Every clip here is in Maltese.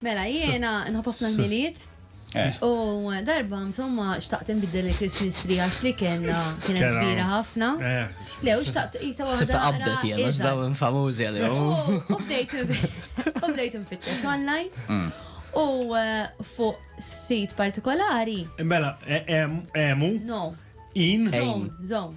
Mela, jiena nħobb ħafna l-miliet. Eh. U darba, insomma, xtaqt nbiddel il-Christmas tree għax li kena kienet Kena. kbira ħafna. Eh. Le, u xtaqt jisa waħda. Sibta naqra qabdet jena, iżgħar. daw infamużi għalihom. U u bdejt u bdejt nfittex online. Mm. U eh, fuq sit partikolari, Mela, e- em- emu, no, in, zone, zone.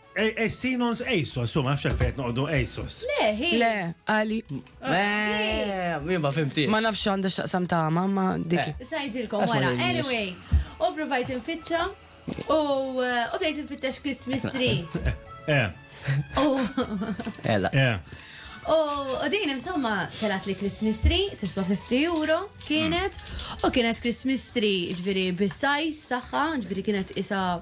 Sinons ASOS, u ma nafx għalfejn noqogħdu ASOS. Le, hi. Le, għali. Eh, ma fimti. Ma nafx għandha x'taqsam ta' mamma dik. Eh. Sajdilkom wara. Anyway, u provajt infittxa u eh, bdejt infittex Christmas tree. Eh. U. Ella. U din insomma telat li Christmas tree, tiswa 50 euro kienet, u kienet Christmas tree ġviri bis-sajz saħħa, ġviri kienet isa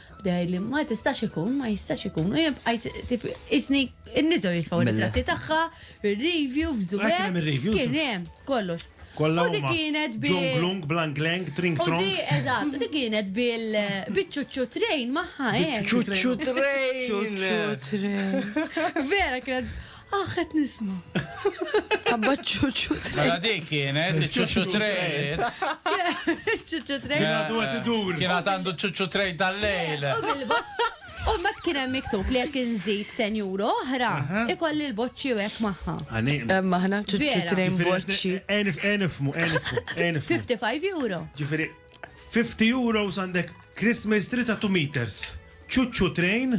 Bda jgħidli, ma tistax ikun, ma jistax ikun, u jien bqajt tip isni n-niżgħu jitfgħu ritratti tagħha, ir-review, f'żubek, kien hemm kollox. Kollha u dik kienet bil. Ġonglung, blangleng, tring trong. U dik eżatt, dik kienet bil biċċuċċu train magħha. Biċċuċċu train. Vera kienet Ah, qed nisma'. Abba ċuċu trejt. Mela dik kienet, ċuċu trejt. ċuċu trejt. Kienet u għet idur. Kienet għandu ċuċu trejt tal-lejl. U ma tkien hemm miktub li jekk inżid 10 euro oħra, ikolli l-boċċi u hekk magħha. Hemm aħna ċuċu trejn boċċi. Enif, enifmu, enifmu, enifmu. 55 euro. Ġifieri 50 euro għandek Christmas tree ta' 2 meters. Ċuċu trejn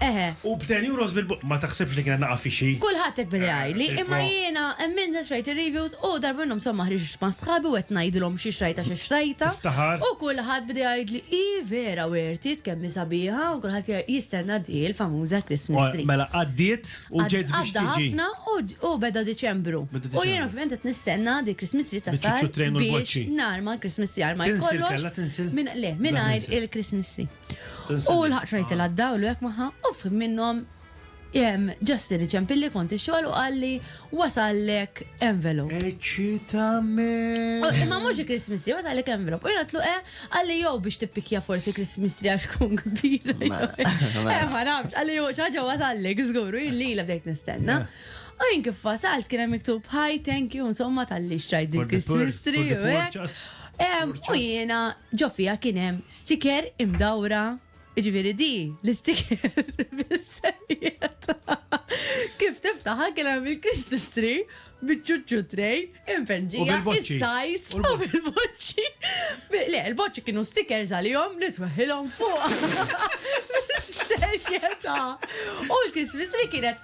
Eħe. U b'ten euros bil-bot. Ma taħsibx li kienet naqaf f'xi. Kulħadd hekk beda jgħidli, imma jiena emmilt għax rajt ir-reviews u darba minnhom somma ħriġt ma' sħabi u qed ngħidilhom xi xtrajtha xi xtrajtha. Tiftaħar. U kulħadd beda jgħidli, hi vera wertiet kemm hi sabiħa u kulħadd jgħid jistenna di l-famuża Christmas tree. Mela għaddiet u ġiet biex tiġi. Għadda ħafna u beda Diċembru. U jiena ovvjament qed nistenna di l-Christmas tree ta' Sara biex narma l-Christmas tree għal ma jkollokx. Tinsil kellha tinsil? Le, mingħajr il-Christmas tree. U l-ħaq rajtila d-dawl u jek maħħa, u fim minnom ġesti li ċempilli konti xol u għalli wasallek envelop. Eċitame. Imma muġi Christmas tree, wasallek envelop. U jgħatlu e, eh, għalli jow biex tippikja forsi Christmas tree għax kun kbira. Eh, ma nafx, għalli jow ċaġa wasallek, zguru, jilli la bdejt nistenna. U jien kif wasalt kien hemm miktub hi, thank you, insomma tal-li xtrajt dik Christmas tree. U jiena ġofija kien hemm sticker imdawra Ġviri di, l-istiker bis-serjeta. Kif tiftaħa kien hemm il-Christmas tree, biċċuċċu trej, impenġija, il-sajs, u bil-boċċi. Le, il-boċċi kienu stickers għalihom li tweħilhom fuq. Serjeta. U l-Christmas tree kienet